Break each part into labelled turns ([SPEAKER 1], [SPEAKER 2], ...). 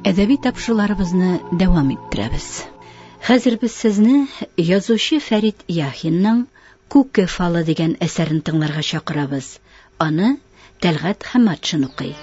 [SPEAKER 1] әдәби тапшыруларыбызны дәвам иттерәбез хәзер без сезне язучы фәрит яхинның күке фалы дигән әсәрен тыңларга чакырабыз аны тәлгат хаматшин укый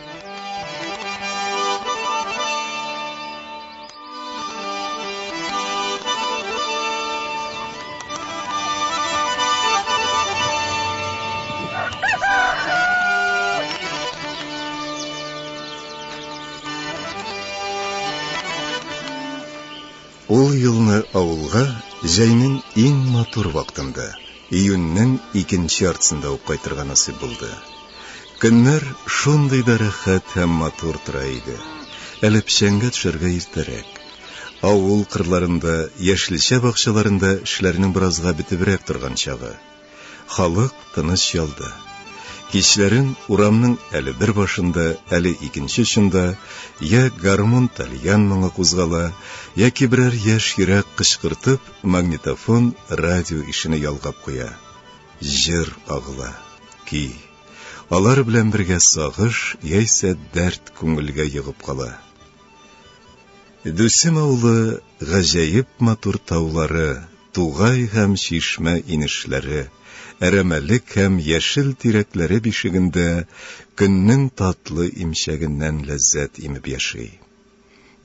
[SPEAKER 1] Ул елны авылга җәйнең иң матур вактында, Июньнең икенче яртысында ук кайтырга насыйп булды. Көннәр шундый да рәхәт һәм матур тора иде. Әле печәнгә төшәргә иртәрәк. Авыл кырларында, яшелчә бакчаларында эшләрнең беразга бетебрәк торган чагы. Халык тыныч ялда. Кичләрен урамның әле бер башында, әле икенче очында йә гармун-тальян моңы кузгала, яки берәр яшь йөрәк кычкыртып, Магнитофон радио ишене ялгап куя. Җыр агыла. Ки. Алар белән бергә сагыш яисә дәрт күңелгә егып кала. Дүсем авылы гаҗәеп матур таулары, тугай һәм чишмә инешләре, әрәмәлек һәм яшел тирәкләре бишегендә көннең татлы имчәгеннән ләззәт имеп яши.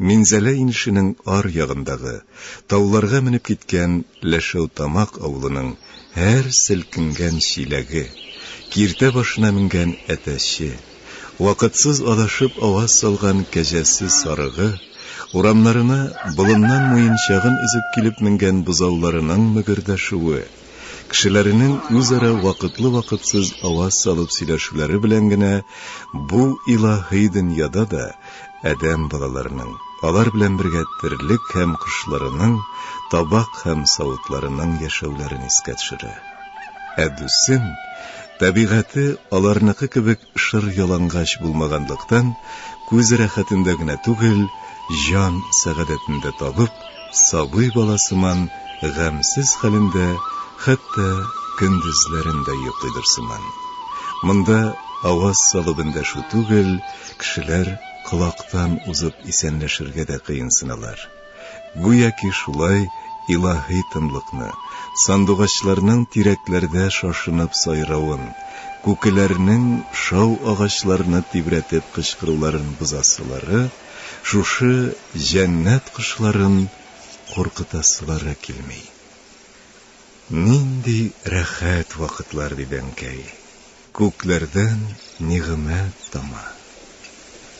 [SPEAKER 1] Минзәлә инешенең ар ягындагы, тауларга менеп киткән Ләшәүтамак авылының һәр селкенгән чиләге, киртә башына менгән әтәче, вакытсыз адашып аваз салган кәҗәсе сарыгы, урамнарына болыннан муенчагын өзеп килеп менгән бозауларының мөгердәшүе, кешеләренең үзара вакытлы-вакытсыз аваз салып сөйләшүләре белән генә бу илаһи дөньяда да адәм балаларының, алар белән бергә терлек һәм кошларының, табак һәм савытларының яшәүләрен искә төшерә. Ә Дусын табигате аларныкы кебек Шыр ялангач булмаганлыктан, күз рәхәтендә генә түгел, җан сәгадәтен дә табып, сабый бала сыман гамьсез хәлендә хәтта көндезләрен дә йоклыйдыр сыман. Монда аваз салып эндәшү түгел, кешеләр колактан узып исәнләшергә дә кыенсыналар. Гүяки шулай илаһи тынлыкны, сандугачларның тирәкләрдә шашынып сайравын, күкеләрнең шау агачларны тибрәтеп кычкыруларын бозасылары, шушы җәннәт кошларын куркытасылары килми. Нинди рәхәт вакытлар, диде әнкәй. Күкләрдән нигъмәт тама.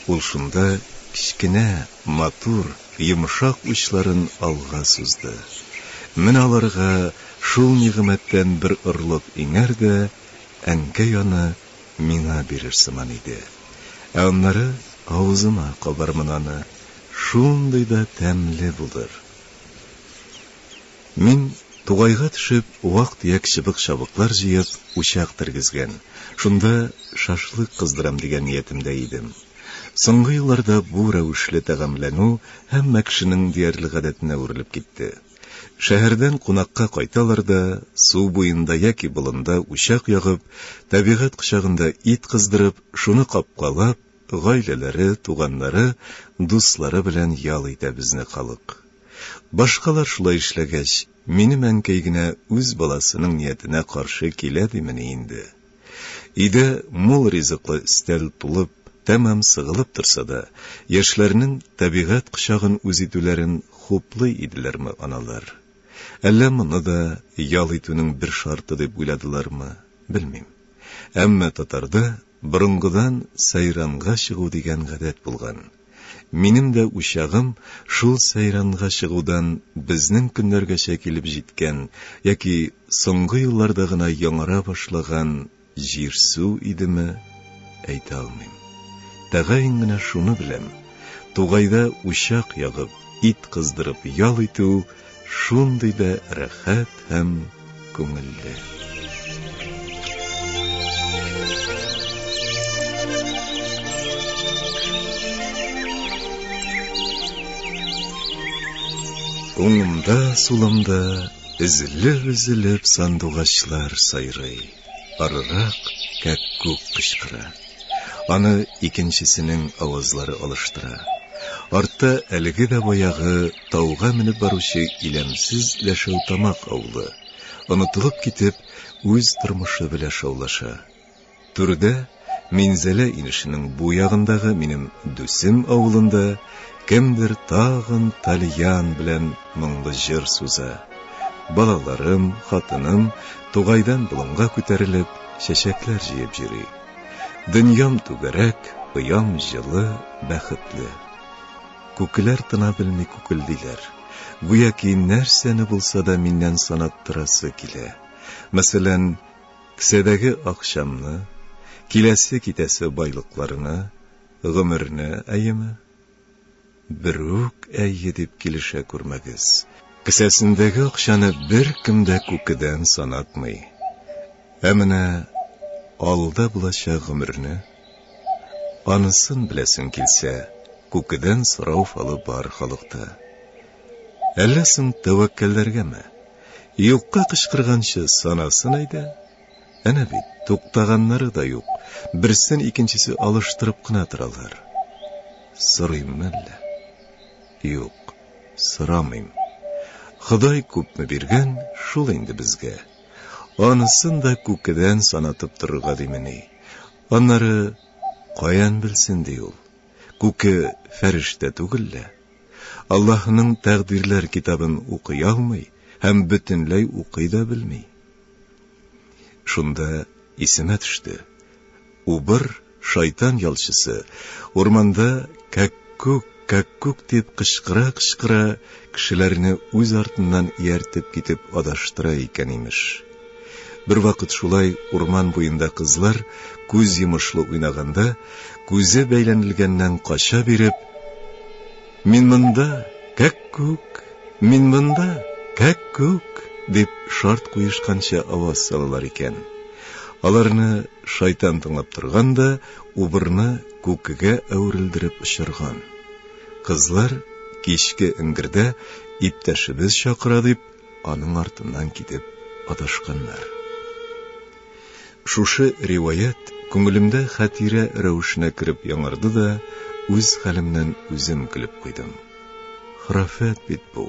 [SPEAKER 1] Ул шунда кечкенә, матур, йомшак учларын алга сузды. Менә аларга шул нигъмәттән бер орлык иңәр дә, әнкәй аны миңа бирер сыман иде. Ә аннары авызыма кабармын аны, шундый да тәмле булыр. Мин, тугайга төшеп, вак-төяк чыбык-чабыклар җыеп, учак тергезгән, шунда шашлык кыздырам дигән ниятемдә идем. Соңгы елларда бу рәвешле тәгамләнү һәммә кешенең диярлек гадәтенә үрелеп китте. Шәһәрдән кунакка кайталар да, су буенда яки болында учак ягып, табигать кочагында ит кыздырып, шуны капкалап, Гаиләләре, туганнары, дуслары белән ял итә безне халык. Башкалар шулай эшләгәч, минем әнкәй генә үз баласының ниятенә каршы килә димени инде? Өйдә мул ризыклы өстәл тулып, тәмам сыгылып торса да, яшьләрнең табигать кочагын үз итүләрен хуплый иделәрме аналар? Әллә моны да ял итүнең бер шарты дип уйладылармы, белмим. Әмма татарда Борынгыдан сәйранга чыгу дигән гадәт булган. Минем дә учагым шул сәйранга чыгудан безнең көннәргәчә килеп җиткән яки соңгы елларда гына яңара башлаган җир-су идеме, әйтә алмыйм. Тәгаен генә шуны беләм, тугайда учак ягып, ит кыздырып ял итү, Шундый да рәхәт һәм күңелле. Уңымда, сулымда өзелеп-өзелеп сандугачлар сайрый. Арырак кәккүк кычкыра. Аны икенчесенең авазлары алыштыра. Артта әлеге дә баягы Тауга менеп баручы иләмсез Ләшәүтамак авылы, онытылып китеп, үз тормышы белә шаулаша. Түрдә, Минзәлә инешенең бу ягындагы минем Дүсем авылында кемдер тагын тальян белән моңлы җыр суза. Балаларым, хатыным тугайдан болынга күтәрелеп, чәчәкләр җыеп йөри. Дөньям түгәрәк, оям җылы, бәхетле. Күкләр тына белми күкелдиләр. Гүяки нәрсәне булса да миннән санаттырасы килә. Мәсәлән, кесәдәге акчамны, киләсе-китәсе байлыкларны, гомерне, әйеме? Бер үк әйе дип килешә күрмәгез. Кесәсендәге акчаны беркем дә күкедән санатмый. Ә менә алда булачак гомерне, анысын беләсең килсә, күкедән сорау фалы бар халыкта. Әллә соң тәвәккәлләргәме? Юкка кычкырганчы санасын әйдә. Әнә бит, туктаганнары да юк, берсен икенчесе алыштырып кына торалар. Сорыйммы әллә? Юк, сорамыйм. Ходай күпме биргән, шул инде безгә. Анысын да күкедән санатып торырга димени? Аннары каян белсен ди ул? Күке фәрештә түгел лә. Аллаһының тәкъдирләр китабын укый алмый һәм бөтенләй укый да белми. Шунда исемә төште. Убыр, шайтан ялчысы, урманда кәккүк, кәккүк дип кычкыра-кычкыра, кешеләрне үз артыннан ияртеп китеп адаштыра икән, имеш. Бервакыт шулай урман буенда кызлар күз йомышлы уйнаганда, күзе бәйләнелгәннән кача биреп, Мин монда, кәккүк, мин монда, кәккүк, дип шарт куешканча аваз салалар икән. Аларны Шайтан тыңлап торган да, убырны күкегә әверелдереп очырган. Кызлар, кичке эңгердә иптәшебез чакыра дип, аның артыннан китеп адашканнар. Шушы риваять күңелемдә хәтирә рәвешенә кереп яңарды да, үз хәлемнән үзем көлеп куйдым. Храфәт бит бу.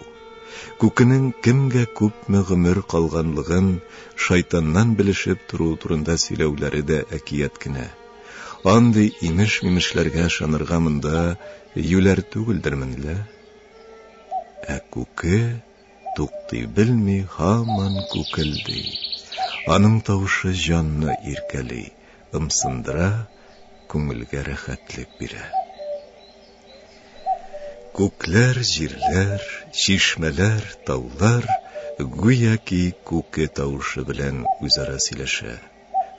[SPEAKER 1] Күкенең кемгә күпме гомер калганлыгын шайтаннан белешеп тору турында сөйләүләре дә әкият кенә. Андый имеш-мимешләргә ышанырга монда юләр түгелдермен лә. Ә күке туктый белми һаман күкелди. Аның тавышы җанны иркәли, ымсындыра, күңелгә рәхәтлек бирә. Күкләр, җирләр, чишмәләр, таулар гүяки күке тавышы белән үзара сөйләшә.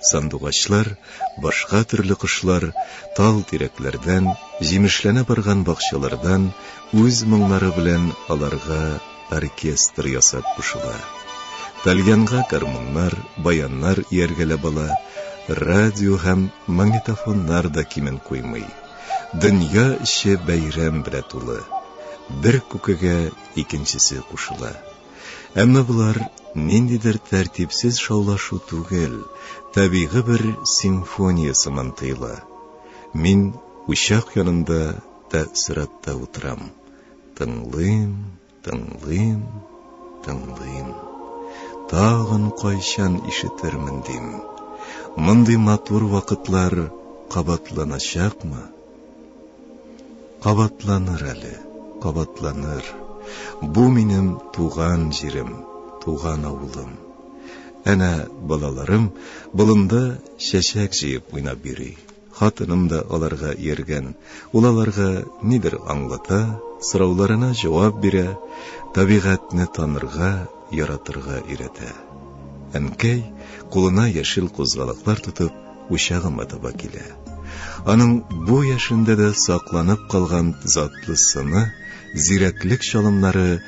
[SPEAKER 1] Сандугачлар, башка төрле кошлар тал-тирәкләрдән, җимешләнә барган бакчалардан үз моңнары белән аларга оркестр ясап кушыла. Тальянга гармуннар, баяннар ияргәләп ала, радио һәм магнитофоннар да кимен куймый. Дөнья эче бәйрәм белә тулы. Бер күкегә икенчесе кушыла. Әмма болар ниндидер тәртипсез шаулашу түгел, табигый бер симфония сыман тоела. Мин учак янында тәэссоратта утырам. Тыңлыйм, Тыңлыйм, тыңлыйм, тагын кайчан ишетермен дим, мондый матур вакытлар кабатланачакмы? Кабатланыр әле, кабатланыр. Бу минем туган җирем, туган авылым. Әнә балаларым болында чәчәк җыеп уйнап йөри. Хатыным да аларга ияргән. Ул аларга нидер аңлата, сорауларына җавап бирә, табигатьне танырга, яратырга өйрәтә. Әнкәй, кулына яшел кузгалаклар тотып, учагыма таба килә. Аның бу яшендә дә сакланып калган затлы сыны, зирәклек чалымнары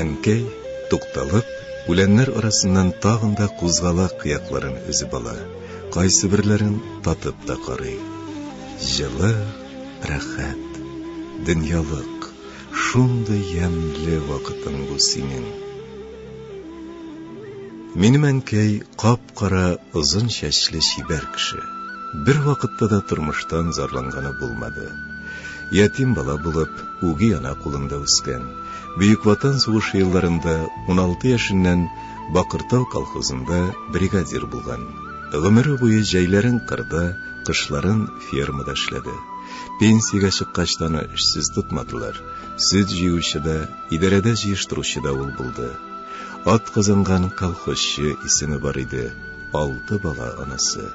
[SPEAKER 1] Әнкәй, тукталып, үләннәр арасыннан тагын да кузгалак кыякларын өзеп ала, кайсыберләрен татып та карый. Җылы, рәхәт. Дөньялык, шундый ямьле вакытың бу синең. Минем әнкәй кап кап-кара озын чәчле чибәр кеше. Бер вакытта да тормыштан зарланганы булмады. Ятим бала булып, үги ана кулында үскән. Бөек Ватан сугышы елларында 16 яшеннән Бакыртау колхозында бригадир булган. Гомере буе җәйләрен кырда, кышларын фермада эшләде. Пенсиягә чыккач та аны эшсез тотмадылар. Сөт җыючы да, идарәдә җыештыручы да ул булды. Атказанган колхозчы исеме бар иде, алты бала анасы.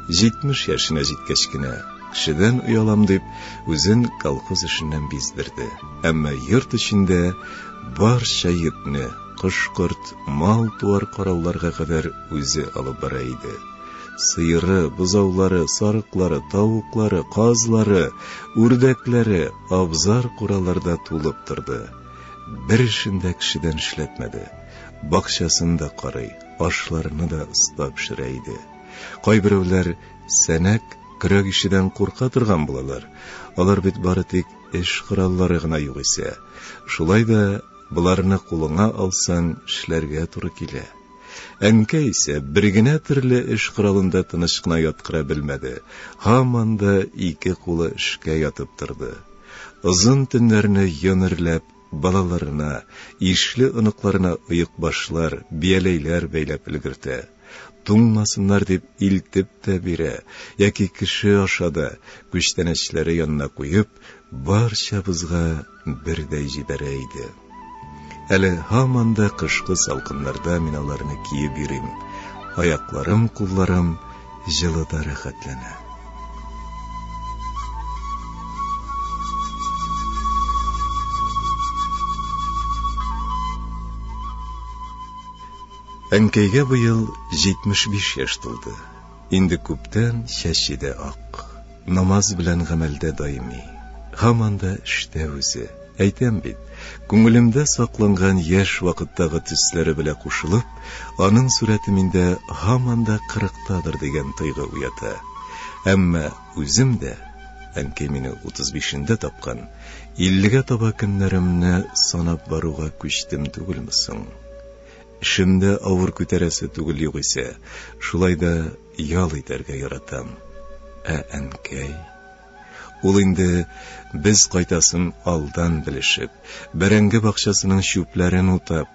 [SPEAKER 1] Җитмеш яшенә җиткәч кенә, кешедән оялам дип, үзен колхоз эшеннән биздерде. Әмма йорт эчендә барча йөкне, кош-корт, мал-туар карауларга кадәр үзе алып бара иде. Сыеры, бозаулары, сарыклары, тавыклары, казлары, үрдәкләре, абзар-куралар да тулып торды. бер эшен дә кешедән эшләтмәде. Бакчасын да карый, ашларны да оста пешерә иде. Кайберәүләр сәнәк, көрәк ишедән курка торган булалар, алар бит бары тик эш кораллары гына югыйсә. Шулай да боларны кулыңа алсаң, эшләргә туры килә. Әнкәй исә бер генә төрле эш коралында тыныч кына яткыра белмәде, һаман да ике кулы эшкә ятып торды. Озын төннәрне йон эрләп, балаларына, ишле оныкларына оекбашлар, бияләйләр бәйләп өлгертә. Туңмасыннар дип илтеп тә бирә, яки кеше аша да, күчтәнәчләре янына куеп, барчабызга Бер дә җибәрә иде. Әле һаман да кышкы салкыннарда мин аларны киеп йөрим. Аякларым, кулларым җылы да рәхәтләнә. Әнкәйгә быел 75 яшь тулды. Инде күптән чәче дә ак. Намаз белән гамәлдә даими. Һаман да эштә үзе. Әйтәм бит, күңелемдә сакланган яшь вакыттагы төсләре белә кушылып, аның сурәте миндә һаман да кырыктадыр дигән тойгы уята. Әмма үзем дә, әнкәй мине утыз бишендә тапкан, иллегә таба көннәремне санап баруга күчтем түгелме соң? Эшем дә авыр күтәрәсе түгел югыйсә, шулай да ял итәргә яратам. Ә әнкәй? Ул инде без кайтасын алдан белешеп, бәрәңге бакчасының чүпләрен утап,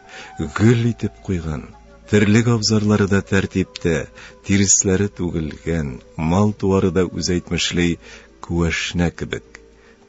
[SPEAKER 1] гөл итеп куйган, терлек абзарлары да тәртиптә, тиресләре түгелгән, мал-туары да үзәйтмешли күәшнә кебек.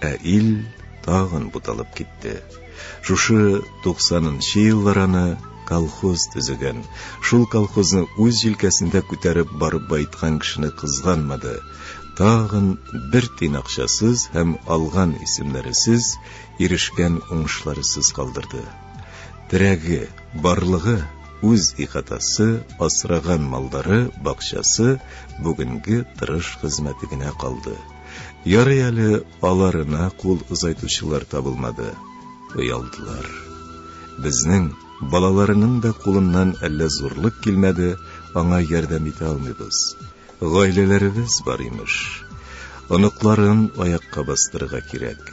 [SPEAKER 1] Ә ил тагын буталып китте. Шушы 90 нчы еллар аны колхоз төзегән, шул колхозны үз җилкәсендә күтәреп барып байыткан кешене кызганмады, тагын бер тин акчасыз һәм алган исемнәресез, ирешкән уңышларысыз калдырды. Терәге, барлыгы, үз ихатасы, асраган малдары, бакчасы, бүгенге тырыш хезмәте генә калды. Ярый әле аларына кул озайтучылар табылмады, оялдылар. Безнең, балаларының да кулыннан әллә зурлык килмәде, аңа ярдәм итә алмыйбыз. Гаиләләребез бар, имеш. Оныкларын аякка бастырырга кирәк.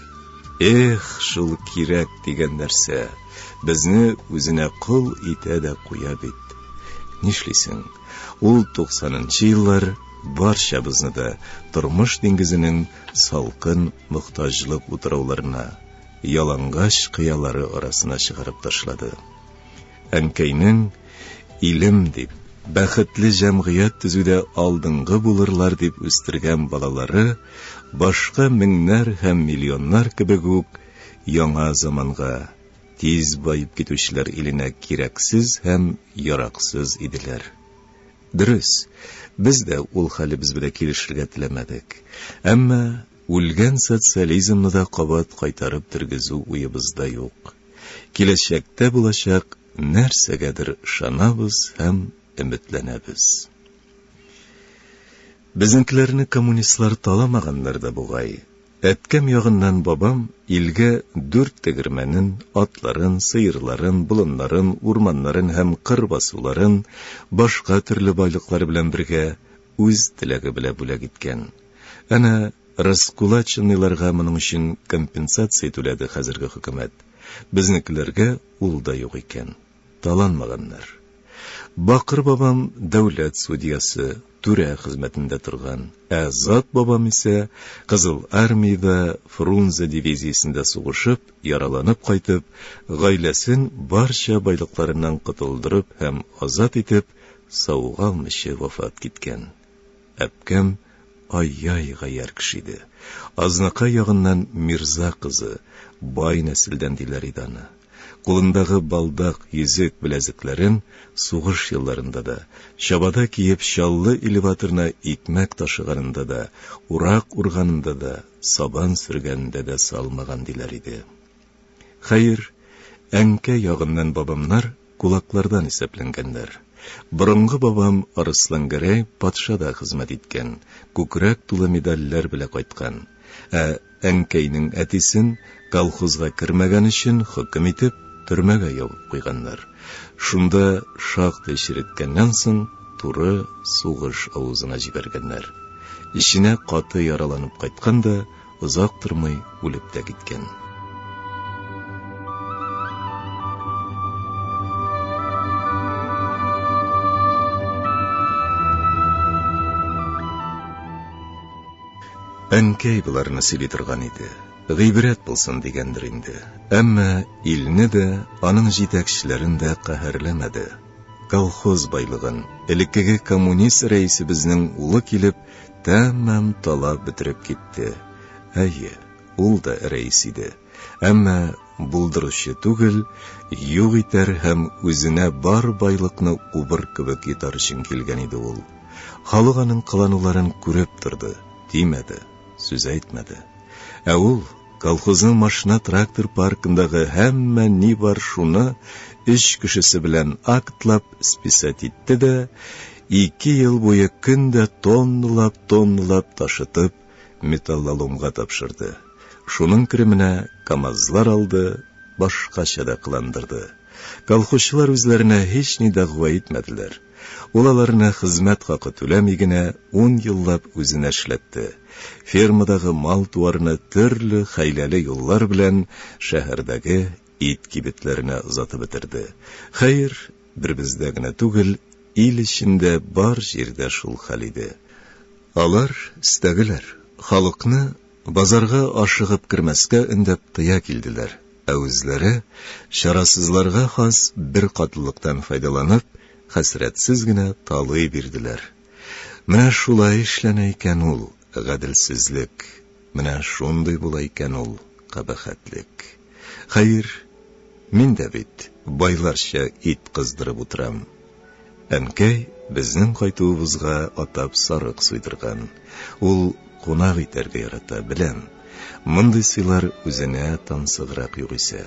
[SPEAKER 1] Эх, шул кирәк дигән нәрсә, безне үзенә кол итә дә куя бит. Нишлисең, ул туксанынчы еллар, барчабызны да тормыш диңгезенең салкын мохтаҗлык утрауларына, ялангач кыялары арасына чыгарып ташлады. Әнкәйнең илем дип, бәхетле җәмгыять төзүдә алдынгы булырлар дип үстергән балалары башка меңнәр һәм миллионнар кебек үк яңа заманга, тиз баеп китүчеләр иленә кирәксез һәм яраксыз иделәр. Дөрес, без дә ул хәлебез белән килешергә теләмәдек. Әмма үлгән социализмны да кабат кайтарып тергезү уебызда юк. Киләчәктә булачак нәрсәгәдер ышанабыз һәм өметләнәбез. Безнекеләрне коммунистлар таламагандыр да бугай, Әткәм ягыннан бабам илгә дүрт тегермәнен, атларын, сыерларын, болыннарын, урманнарын һәм кыр басуларын, башка төрле байлыклар белән бергә, үз теләге белә бүләк иткән. Әнә раскулаченныйларга моның өчен компенсация түләде хәзерге хөкүмәт. Безнекеләргә ул да юк икән. таланмаганнар. Бакыр бабам дәүләт судьясы, түрә хезмәтендә торган, ә Зат бабам исә Кызыл Армиядә Фрунзе дивизиясендә сугышып, яраланып кайтып, гаиләсен барча байлыкларыннан котылдырып һәм азат итеп, савыга алмыйча вафат киткән. Әпкәм ай-яй гаярь кеше иде. Азнакай ягыннан мирза кызы, бай нәселдән диләр иде аны. Кулындагы балдак, йөзек, беләзекләрен сугыш елларында да, чабата киеп Чаллы элеваторына икмәк ташыганында да, урак урганында да, сабан сөргәнендә дә салмаган, диләр иде. Хәер, әнкәй ягыннан бабамнар кулаклардан исәпләнгәннәр. Борынгы бабам Арыслангәрәй патша да хезмәт иткән, күкрәк тулы медальләр белә кайткан. Ә Әнкәйнең әтисен, колхозга кермәгән өчен хөкем итеп, төрмәгә ябып куйганнар. Шунда шактый череткәннән соң, туры сугыш авызына җибәргәннәр. Эченә каты яраланып кайткан да, озак тормый үлеп тә киткән. Әнкәй боларны сөйли торган иде. Гыйбрәт булсын дигәндер инде. Әмма илне дә, аның җитәкчеләрен дә каһәрләмәде. Колхоз байлыгын, элеккеге коммунист рәисебезнең улы килеп, тәмам талап бетереп китте. Әйе, ул да рәис иде. Әмма булдыручы түгел, юк итәр һәм үзенә бар байлыкны убыр кебек йотар өчен килгән иде ул. Халык аның кылануларын күреп торды, тимәде, сүз әйтмәде. Ә ул, колхозның машина-трактор паркындагы һәммә ни бар шуны өч кешесе белән актлап списать итте дә, ике ел буе көн дә тонналап-тонналап ташытып, металлоломга тапшырды. Шуның кеременә КАМАЗлар алды, башкача да кыландырды. Колхозчылар үзләренә һични дәгъва итмәделәр. Ул аларны хезмәт хакы түләми генә ун еллап үзенә эшләтте. Фермадагы мал-туарны төрле хәйләле юллар белән шәһәрдәге Ит кибетләренә озатып бетерде. Хәер, бер бездә генә түгел, ил эчендә бар җирдә шул хәл иде. Алар, стәгеләр, халыкны базарга ашыгып кермәскә өндәп тыя килделәр, ә үзләре, чарасызларга хас беркатлылыктан файдаланып, хәсрәтсез генә талый бирделәр. Менә шулай эшләнә икән ул гаделсезлек! Менә шундый була икән ул кабахәтлек. Хәер, мин дә бит байларча ит кыздырып утырам. Әнкәй безнең кайтуыбызга атап сарык суйдырган. Ул кунак итәргә ярата, беләм. Мондый сыйлар үзенә тансыграк югыйсә.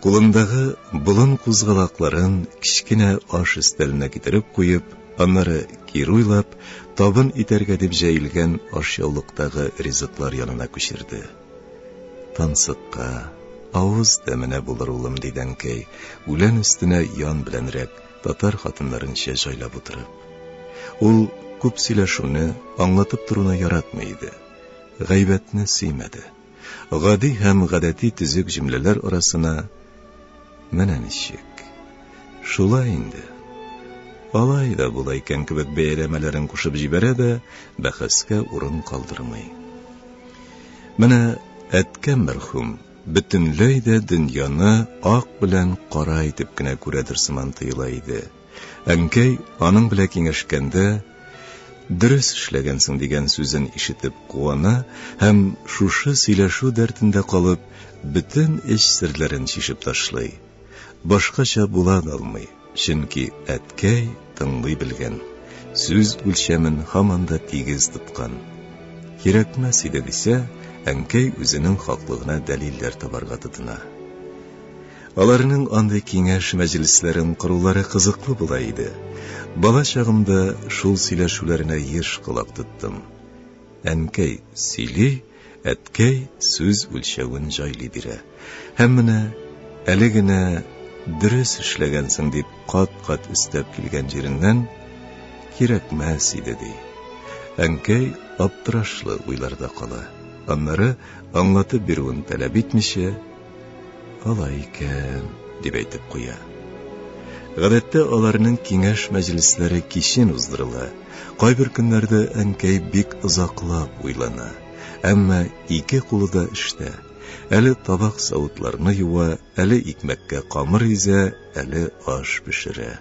[SPEAKER 1] Кулындагы болын кузгалакларын кечкенә аш өстәленә китереп куеп, аннары кире уйлап, табын итәргә дип җәелгән ашъяулыктагы ризыклар янына күчерде. Тансыкка, авыз тәменә булыр, улым, диде әнкәй, үлән өстенә ян беләнрәк, татар хатыннарынча җайлап утырып. Ул күп сөйләшүне, аңлатып торуны яратмый иде. Гайбәтне сөймәде. гади һәм гадәти төзек җөмләләр арасына менә ничек, шулай инде, алай да була икән кебек бәяләмәләрен кушып җибәрә дә, бәхәскә урын калдырмый. Менә әткә мәрхүм бөтенләй дә дөньяны ак белән кара итеп кенә күрәдер сыман тоела иде. Әнкәй, аның белә киңәшкәндә, Дөрес эшләгәнсең, дигән сүзен ишетеп куана һәм, шушы сөйләшү дәртендә калып, бөтен эч серләрен чишеп ташлый. Башкача була да алмый, чөнки әткәй тыңлый белгән, сүз үлчәмен һаман да тигез тоткан. Кирәкмәс иде, дисә, әнкәй үзенең хаклыгына дәлилләр табарга тотына. Аларның андый киңәш мәҗлесләрен корулары кызыклы була иде. Бала чагымда шул сөйләшүләренә еш колак тоттым. Әнкәй сөйли, әткәй сүз үлчәвен җайлый бирә. Һәм менә әле генә дөрес эшләгәнсең дип кат-кат өстәп килгән җиреннән, Кирәкмәс иде, ди. Әнкәй аптырашлы уйларда кала. Аннары, аңлатып бирүен таләп итмичә, Алай икән, дип әйтеп куя. Гадәттә аларның киңәш мәҗлесләре кичен уздырыла, кайбер көннәрдә әнкәй бик озаклап уйлана, әмма ике кулы да эштә, әле табак-савытларны юа, әле икмәккә камыр изә, әле аш пешерә.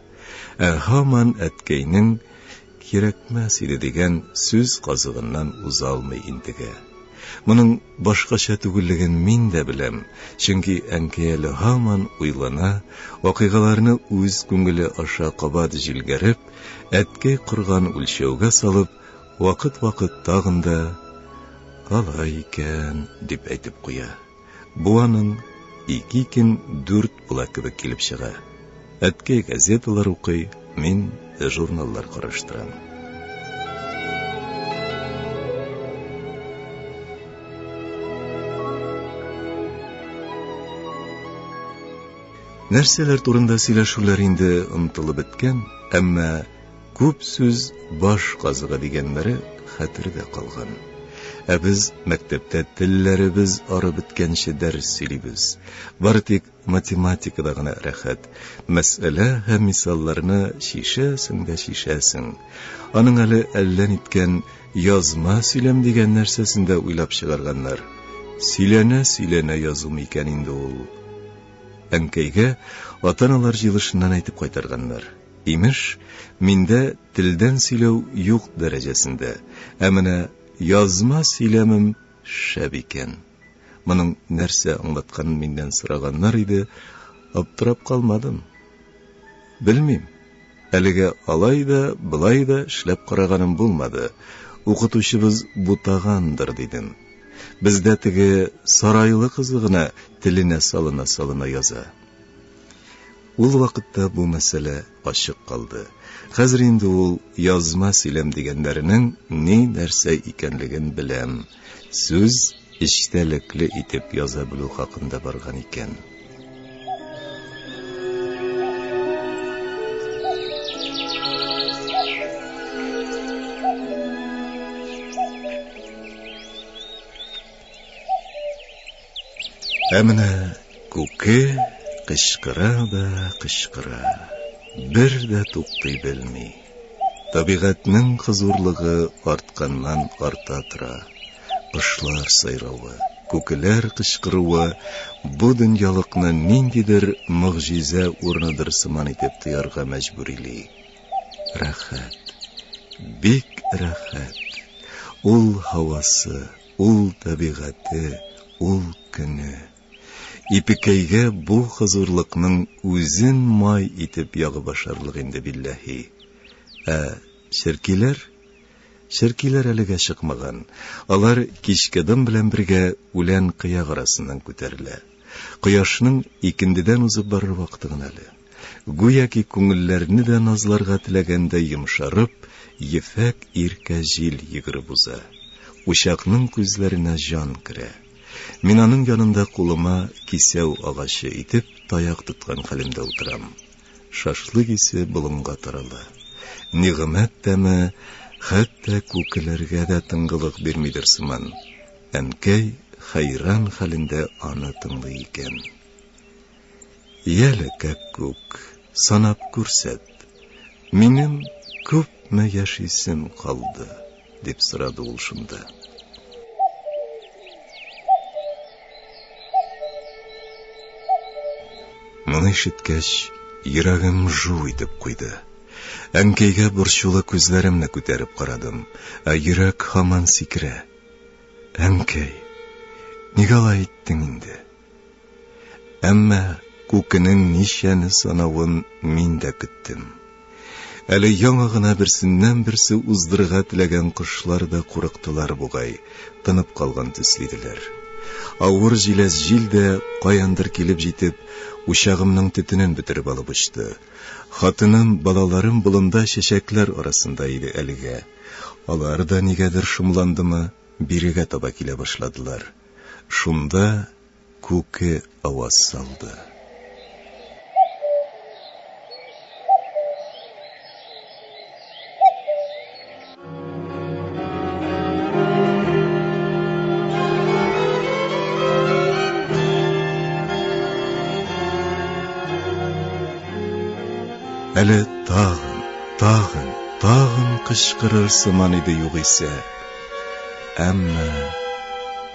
[SPEAKER 1] Ә һаман әткәйнең Кирәкмәс иде дигән сүз казыгыннан уза алмый интегә. Моның башкача түгеллеген мин дә беләм, чөнки әнкәй әле һаман уйлана, вакыйгаларны үз күңеле аша кабат җилгәреп, әткәй корган үлчәүгә салып, вакыт-вакыт тагын да, Алай икән, дип әйтеп куя. Бу аның ике икең дүрт була кебек килеп чыга. Әткәй газеталар укый, мин журналлар караштырам. Нәрсәләр турында сөйләшүләр инде онытылып беткән, әмма Күп сүз баш казыгы дигәннәре хәтердә калган. Ә без мәктәптә телләребез ары беткәнче дәрес сөйлибез. Бары тик математикада гына рәхәт. Мәсьәлә һәм мисалларны чишәсең дә чишәсең. Аның әле әллә ниткән язма сөйләм дигән нәрсәсен дә уйлап чыгарганнар. Сөйләнә-сөйләнә язу микән инде ул? Әнкәйгә ата-аналар җыелышыннан әйтеп кайтарганнар. Имеш, миндә телдән сөйләү юк дәрәҗәсендә, ә менә язма сөйләмем шәп икән. Моның нәрсә аңлатканын миннән сораганнар иде, аптырап калмадым. Белмим, әлегә алай да, болай да эшләп караганым булмады, укытучыбыз бутагандыр, дидем. Бездә теге сарайлы кызы гына теленә салына-салына яза. Ул вакытта бу мәсьәлә ачык калды. Хәзер инде ул язма сөйләм дигәннәренең ни-нәрсә икәнлеген беләм. Сүз эчтәлекле итеп яза белү хакында барган икән. Ә менә күке кычкыра да кычкыра, бер дә туктый белми. Табигатьнең хозурлыгы артканнан арта тора. Кошлар сайравы, күкеләр кычкыруы бу дөньялыкны ниндидер могҗиза урыныдыр сыман итеп тоярга мәҗбүрили. Рәхәт, бик рәхәт! Ул һавасы, Ул табигате, ул көне. Ипекәйгә бу хозурлыкның үзен май итеп ягып ашарлык инде, билләһи. Ә черкиләр? Черкиләр әлегә чыкмаган. Алар кичке дым белән бергә үлән кыяк арасыннан күтәрелә. Кояшның икендедән узып барыр вакыты гына әле. Гүяки күңелләрне дә назларга теләгәндәй йомшарып, ефәк иркә җил йөгереп уза. Учакның күзләренә җан керә. Мин аның янында кулыма кисәү агачы итеп таяк тоткан хәлемдә утырам. Шашлык исе болынга тарала. Нигъмәт тәме хәтта күкеләргә дә тынгылык бирмидер сыман. Әнкәй хәйран хәлендә аны тыңлый икән. Яле, Кәккүк, санап күрсәт, минем күпме яшисем калды? дип сорады ул шунда. Моны ишеткәч, йөрәгем жу итеп куйды. Әнкәйгә борчулы күзләремне күтәреп карадым, ә йөрәк һаман сикерә. Әнкәй, ник алай иттең инде? Әмма күкенең ничәне санавын мин дә көттем. Әле яңа гына берсеннән-берсе уздырырга теләгән кошлар да курыктылар бугай, тынып калган төсле иделәр. Авыр җиләс җил дә, каяндыр килеп җитеп, учагымның төтенен бөтереп алып очты. Хатыным, балаларым болында чәчәкләр арасында иде әлегә. Алар да нигәдер шомландымы, бирегә таба килә башладылар. Шунда Күке аваз салды. Әле тагын Тагын, тагын кычкырыр сыман иде югыйсә, әмма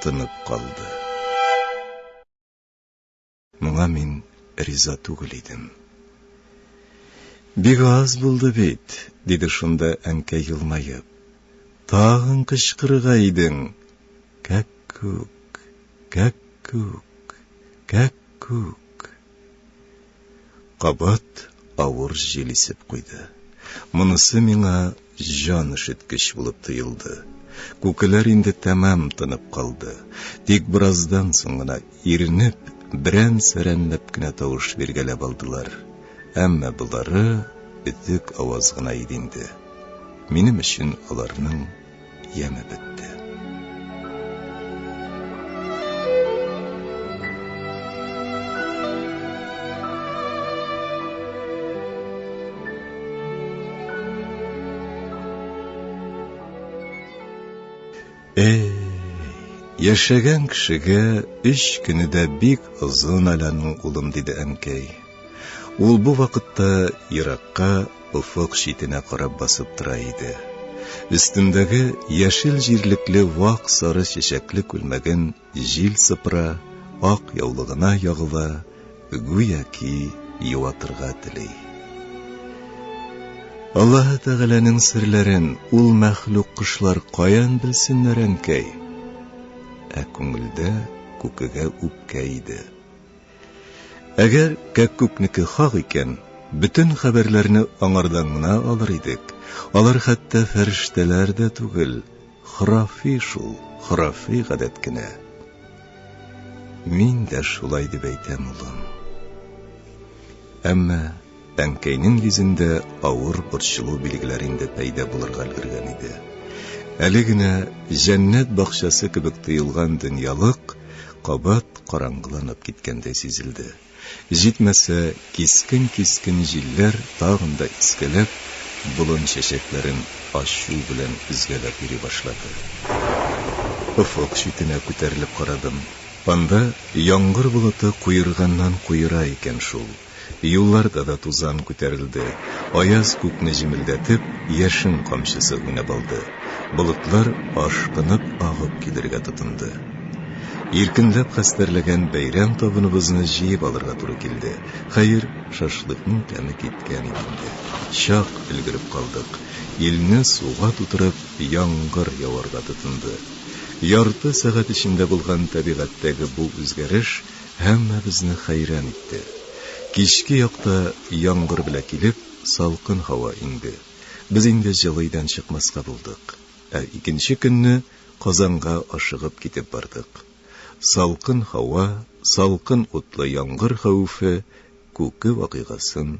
[SPEAKER 1] тынып калды. Моңа мин риза түгел идем. Бик аз булды бит, диде шунда әнкә елмаеп. Тагын кычкырырга идең. Кәк-күк, кәк-күк, кәк-күк. Кабат авыр җил исеп куйды. Монысы миңа җан өшеткеч булып тоелды. Күкеләр инде тәмам тынып калды. Тик бераздан соң гына, иренеп, берән-сәрәнләп кенә тавыш биргәләп алдылар. Әмма болары бөтек аваз гына иде инде. Минем өчен аларның яме бетте. Эй, яшәгән кешегә өч көне дә бик озын әле аның улым, диде әнкәй. Ул бу вакытта еракка офык читенә карап басып тора иде. Өстендәге яшел җирлекле вак сары чәчәкле күлмәген җил сыпыра, ак яулыгына ягыла, гүяки юатырга тели. Аллаһы Тәгаләнең серләрен ул мәхлук кошлар каян белсеннәр, әнкәй? Ә күңелдә күкегә үпкә иде. Әгәр кәккүкнеке хак икән, бөтен хәбәрләрне аңардан гына алыр идек, алар хәтта фәрештәләр дә түгел, хорафи шул, хорафи гадәт кенә. Мин дә шулай дип әйтәм, улым. Әмма. Әнкәйнең йөзендә авыр борчылу билгеләре инде пәйда булырга өлгергән иде. Әле генә җәннәт бакчасы кебек тоелган дөньялык кабат караңгыланып киткәндәй сизелде. Җитмәсә, кискен-кискен җилләр тагын да искәләп, болын чәчәкләрен ачу белән өзгәләп йөри башлады. Офык читенә күтәрелеп карадым. Анда яңгыр болыты куерганнан-куера икән шул. Юлларда да тузан күтәрелде. Аяз күкне җемелдәтеп, яшен камчысы уйнап алды. Болытлар ашкынып агып килергә тотынды. Иркенләп хәстәрләгән бәйрәм табыныбызны җыеп алырга туры килде. Хәер, шашлыкның тәме киткән иде инде. Чак өлгереп калдык. Илне суга тутырып, яңгыр яварга тотынды. Ярты сәгать эчендә булган табигатьтәге бу үзгәреш Һәммәбезне хәйран итте. Кичке якта яңгыр белә килеп, салкын һава иңде. Без инде җылыйдан чыкмаска булдык. Ә икенче көнне Казанга ашыгып китеп бардык. Салкын һава, салкын утлы яңгыр хәвефе Күке вакыйгасын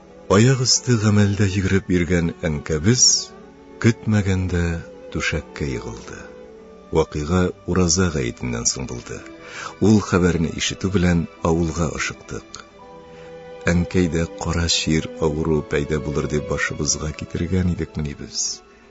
[SPEAKER 1] Аяк өсте гамәлдә йөгереп йөргән әнкәбез көтмәгәндә түшәккә егылды. Вакыйга Ураза гаетеннән соң булды. Ул хәбәрне ишетү белән авылга ашыктык. Әнкәйдә кара чир авыруы пәйда булыр дип башыбызга китергән идекмени без?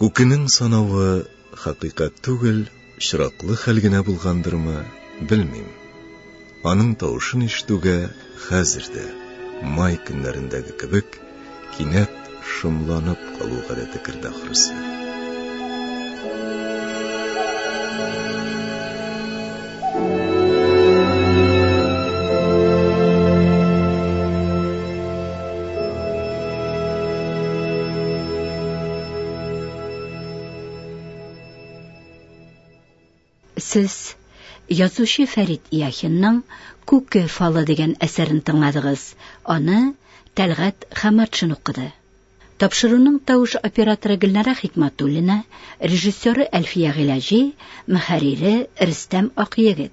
[SPEAKER 1] Күкенең санавы хакыйкать түгел, очраклы хәл генә булгандырмы, белмим. Аның тавышын ишетүгә хәзер дә, май көннәрендәге кебек, кинәт шомланып калу гадәте керде ахрысы. Сез язучы Фәрит Яхинның Күке фалы дигән әсәрен тыңладыгыз. Аны Тәлгат Хаматшин укыды. Тапшыруның тавыш операторы Гөлнара Хикматуллина, режиссеры Әлфия Гыйләҗи, мөхәррире Рөстәм Акъегет.